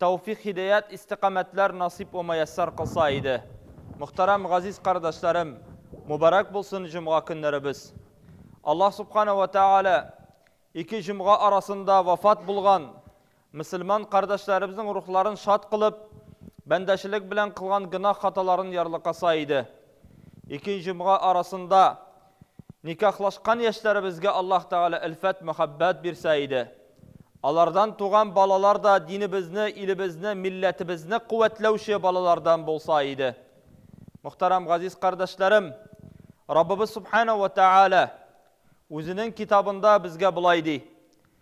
тәүфик һидәят истикамәтләр насыйп вә маяссар кылса иде. Мөхтәрәм газиз кардәшләрем, мөбарәк булсын җомга көннәребез. Аллаһ Субхана вә Тәгалә ике җомга арасында вафат булган мөселман кардәшләребезнең рухларын шат кылып, бәндәчелек белән кылган гөнаһ хаталарын ярлыкаса иде. Ике җомга арасында Никахлашкан яшьләребезгә Аллаһ Тәгалә әлфәт, мәхәббәт бирсә иде. Алардан туган балалар да динебезне, илебезне, милләтебезне куәтләүче балалардан булса иде. Мөхтәрәм газиз кардәшләрем, Раббыбыз Субхана ва Тәгалә Үзенең китабында безгә болай ди,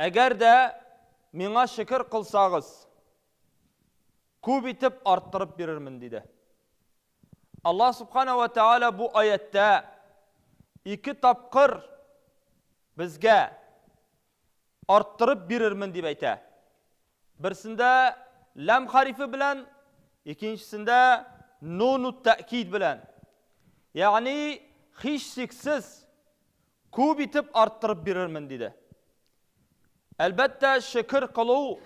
Әгәр дә миңа шөкер кылсагыз, күп итеп арттырып бирермен, диде. Аллаһ Субхана ва Тәгалә бу аяттә ике тапкыр безгә арттырып бирермен дип әйтә. Берсендә ләм харифе белән, икенчесендә нуну тәкид белән. Ягъни, һичшиксез, Күп итеп арттырып бирермен, диде. Әлбәттә, шөкер кылу,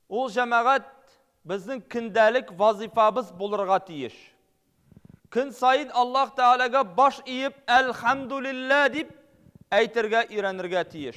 ул, җәмәгать, безнең көндәлек вазыйфабыз булырга тиеш. Көн саен Аллаһ Тәгаләгә баш иеп, Әлхәмдүлилләһ дип әйтергә өйрәнергә тиеш.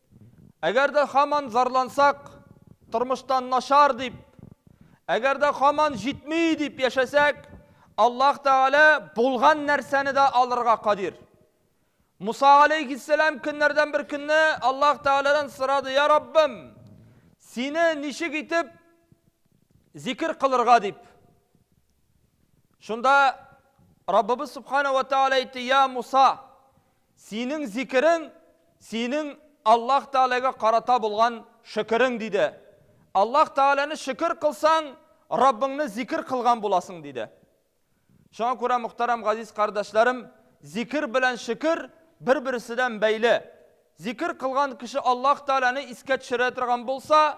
Әгәр дә һаман зарлансак, тормыштан начар дип, әгәр дә һаман җитми дип яшәсәк, Аллаһ Тәгалә булган нәрсәне дә алырга кадир. Муса алейхиссәлам көннәрдән бер көнне Аллаһ Тәгаләдән сорады, Я Раббым, сине ничек итеп зикер кылырга дип. Шунда Раббыбыз Субхана ва Тәгалә әйтте, Я Муса, Синең зикерең, синең Аллаһ Тәгаләгә карата булган шөкерең, диде. Аллаһ Тәгаләне шөкер кылсаң, Раббыңны зикер кылган буласың, диде. Шуңа күрә, мөхтәрәм газиз кардәшләрем, зикер белән шөкер бер-берседән бәйле. Зикер кылган кеше Аллаһ Тәгаләне искә төшерә торган булса,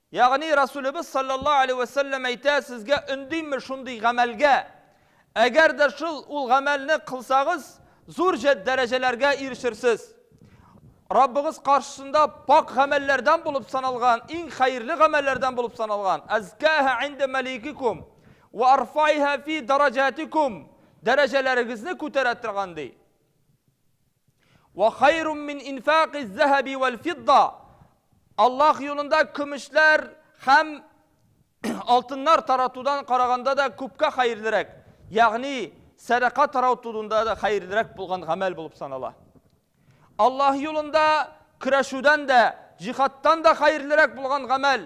Ягъни Расулебез салләллаһу галәйһи вә сәлләм әйтә, сезгә өндимме шундый гамәлгә, әгәр дә шул, ул гамәлне кылсагыз, зур җә, дәрәҗәләргә ирешерсез. Раббыгыз каршысында пакь гамәлләрдән булып саналган, иң хәерле гамәлләрдән булып саналган, Әзкәһә инда мәликикум, вә арфаиһә фи дараҗатикум, дәрәҗәләрегезне күтәрә торган, ди. Вә хайрун мин инфакиз зәһәби вәл фидда. Аллаһ юлында көмешләр һәм алтыннар таратудан караганда да күпкә хәерлерәк. Ягъни сәдака таратуында да хәерлерәк булган гамәл булып санала. Аллаһ юлында көрәшүдән дә, җихадтан да хәерлерәк булган гамәл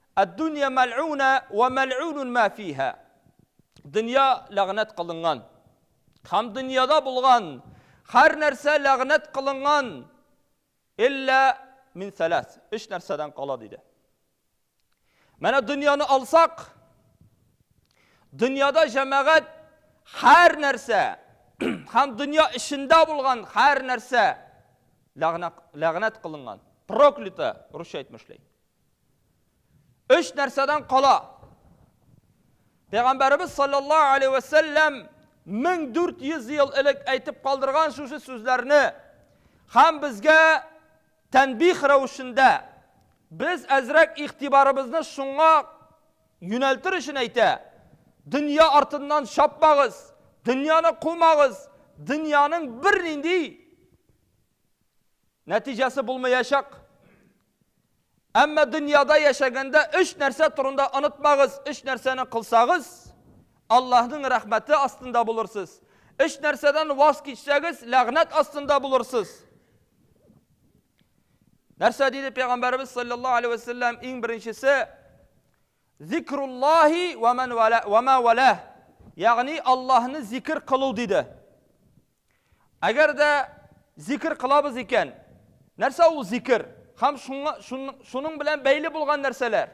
Ад-дунья мәльгунә вә мәльгунун мә фиһа. Дөнья ләгънәт кылынган һәм дөньяда булган һәр нәрсә ләгънәт кылынган, илля мин сәләс, өч нәрсәдән кала, диде. Менә дөньяны алсак, дөньяда җәмәгать һәр нәрсә һәм дөнья эчендә булган һәр нәрсә ләгънәт кылынган, проклято, русча әйтмешли. Өч нәрсәдән кала. Пәйгамбәребез саллаллаһу алейхи ва сәлләм 1400 ел элек әйтеп калдырган шушы сүзләрне һәм безгә тәнбих рәвешендә без әзрәк игътибарыбызны шуңа юнәлтер өчен әйтә. Дөнья артыннан чапмагыз, дөньяны кумагыз, дөньяның бернинди Нәтиҗәсе булмаячак. Әмма дөньяда яшәгәндә өч нәрсә турында онытмагыз. Өч нәрсәне кылсагыз, Аллаһның рәхмәте астында булырсыз. Өч нәрсәдән ваз кичсәгез, ләгънәт астында булырсыз. Нәрсә диде пәйгамбәребез саллаллаһу алейхи вәсәлләм иң беренчесе зикруллахи ва ма вала. Ягъни Аллаһны зикр кылу диде. Әгәр дә зикер кылабыз икән, нәрсә ул зикер? Хәм шуның белән бәйле булган нәрсәләр?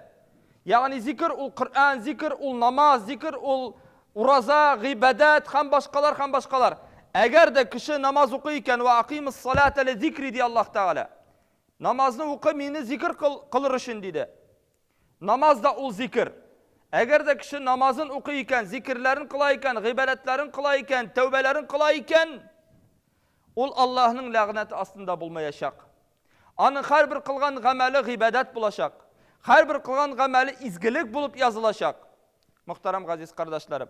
Ягъни зикер ул Коръән, зикер ул намаз, зикер ул ураза, гыйбадәт хәм башкалар хәм башкалар. Әгәр дә кеше намаз укый икән, ва акимус салата ли зикри ди Аллаһ Тәгалә. Намазны укы, мине зикер кылыр өчен диде. Намаз да ул зикер. Әгәр дә кеше намазын укый икән, зикерләрен кыла икән, гыйбадәтләрен кыла икән, тәүбәләрен кыла икән, ул Аллаһның ләгънәте астында булмаячак. Аның һәрбер кылган гамәле гыйбадәт булачак. Һәрбер кылган гамәле изгелек булып язылачак. Мөхтәрәм газиз кардәшләрем.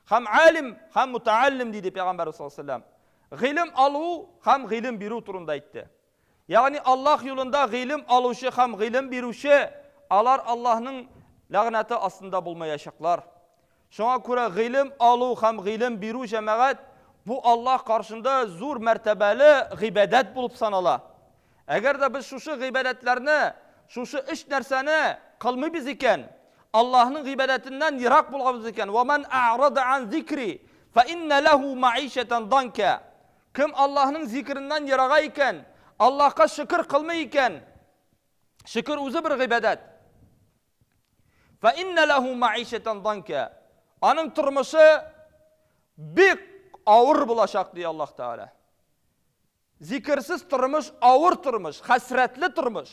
Һәм алим, һәм мутааллим диде пәйгамбәрбез саллаллаһу алейһи ва саллям. Гыйлем алу һәм гыйлем бирү турында әйтте. Ягъни Аллаһ юлында гыйлем алучы һәм гыйлем бирүче, алар Аллаһның ләгънәте астында булмаячаклар. Шуңа күрә гыйлем алу һәм гыйлем бирү җәмәгать бу Аллаһ каршында зур мәртәбәле гыйбадәт булып санала. Әгәр дә без шушы гыйбадәтләрне, шушы өч нәрсәне кылмыйбыз икән, Аллаһның гыйбадәтеннән ерак булганбыз икән, Ва ман а'рада ан зикри, фа инна лаху ма'ишатан данка. Кем Аллаһның зикереннән ерага икән, Аллаһка шөкер кылмый икән, шөкер үзе бер гыйбадәт. Фә иннә ләһу мәгыйшәтән данкә. Аның тормышы бик авыр булачак, ди Аллаһ Тәгалә. Зикерсез тормыш, авыр тормыш, хәсрәтле тормыш.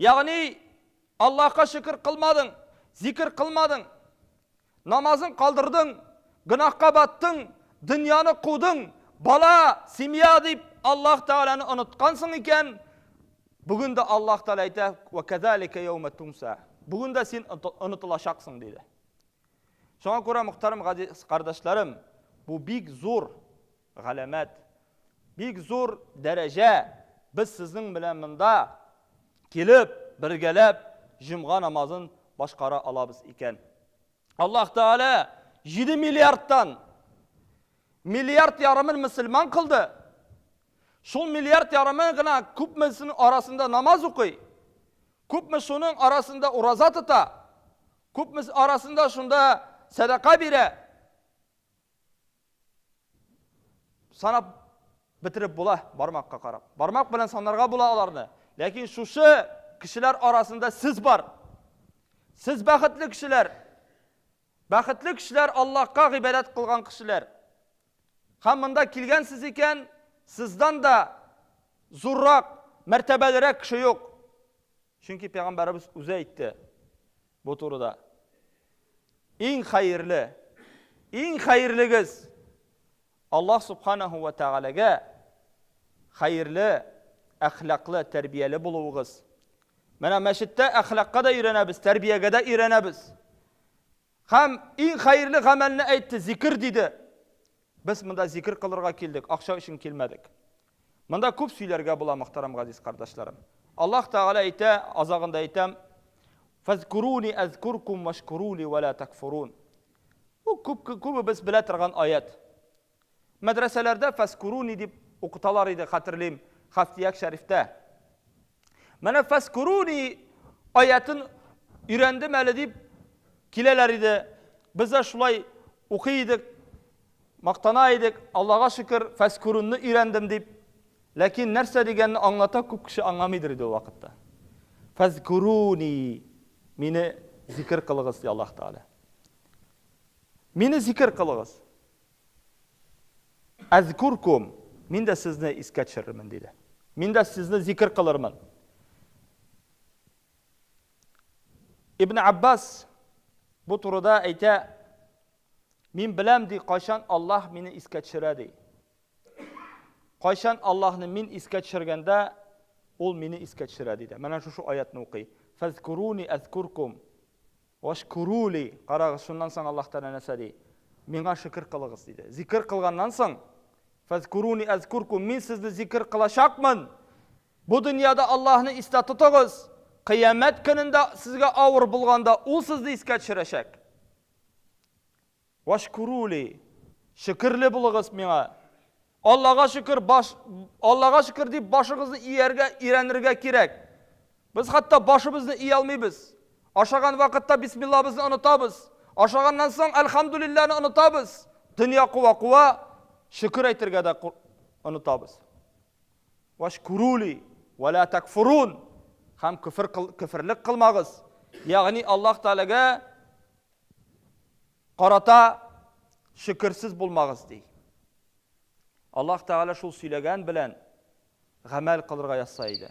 Ягъни, Аллаһка шөкер кылмадың, зикер кылмадың, намазын калдырдың, гөнаһка баттың, дөньяны кудың, бала, семья дип Аллаһ Тәгаләне оныткансың икән, бүген дә Аллаһ Тәгалә әйтә, "Ва казалика яума тунса". Бүген дә син онытылачаксың диде. Шуңа күрә, мөхтәрәм кардәшләрем, бу бик зур Галәмәт. Бик зур дәрәҗә, без сезнең белән монда килеп, бергәләп җомга намазын башкара алабыз икән. Аллаһ Тәгалә җиде миллиардтан миллиард ярымын мөселман кылды. Шул миллиард ярымы гына күпмесенең арасында намаз укый, күпме шуның арасында ураза тота, күпме арасында шунда сәдака бирә. Санап бетереп була бармакка карап. Бармак белән санарга була аларны. Ләкин шушы кешеләр арасында сез бар. Сез бәхетле кешеләр. Бәхетле кешеләр Аллаһка гыйбадәт кылган кешеләр. Һәм монда килгәнсез икән, сездән дә зуррак, мәртәбәлерәк кеше юк. Чөнки пәйгамбәрбез үзе әйтте. Бу турыда. Иң хәерле, иң хәерлегез Аллаһ Субханаһу вә Тәгаләгә хәерле, әхлаклы, тәрбияле булуыгыз. Менә мәчеттә әхлакка да өйрәнәбез, тәрбиягә дә өйрәнәбез. Һәм иң хәерле гамәлне әйтте, зикер диде. Без монда зикер кылырга килдек, акча өчен килмәдек. Монда күп сөйләргә була, мөхтәрәм газиз кардәшләрем. Аллаһ Тәгалә әйтә, азагында әйтәм, Фазкуруни азкуркум вашкурули ва ла такфурун. Бу күп күбебез белә торган аять. Мәдрәсәләрдә фазкуруни дип укыталар иде, хәтерлим, Хафтияк шәрифтә. Менә фәскуруни аятын өйрәндем әле дип киләләр иде. Без дә шулай укый идек, мактана идек. Аллага шөкер, фәскурунны өйрәндем дип. Ләкин нәрсә дигәнне аңлата күп кеше аңламыйдыр иде ул вакытта. Фәскуруни мине зикер кылыгыз, ди Аллаһ Тәгалә. Мине зикер кылыгыз. Әзкүркүм, мин дә сезне искә төшерермен, диде. Мин дә сезне зикер кылырмын. Ибн Аббас бу турыда әйтә, мин беләм, ди, кайчан Аллаһ мине искә төшерә, ди. Кайчан Аллаһны мин искә төшергәндә, ул мине искә төшерә, диде. Менә шушы аятны укый. Фазкуруни әзкүркүм. Вәшкүрү ли, карагыз, шуннан соң Аллаһ Тәгалә нәрсә ди? Миңа шөкер кылыгыз, диде. Зикер кылганнан соң, Фәзкүрүни әзкүркүм, мин сезне зикер кылачакмын. Бу дөньяда Аллаһны истә тотыгыз, Кыямәт көнендә сезгә авыр булганда, Ул сезне искә төшерәчәк. Вәшкүрүли, шөкерле булыгыз миңа. Аллага шөкер, баш, Аллага шөкер дип башыгызны ияргә өйрәнергә кирәк. Без хәтта башыбызны ия алмыйбыз. Ашаган вакытта бисмиллабызны онытабыз. Ашаганнан соң әлхәмдүлилләне онытабыз. Дөнья куа-куа, шөкер әйтергә дә онытабыз. Вәшкүрүли, вәлә тәкфурун. Һәм көфер, көферлек кылмагыз. Ягъни Аллаһ Тәгаләгә карата шөкерсез булмагыз, ди. Аллаһ Тәгалә шул сөйләгән белән гамәл кылырга язса иде.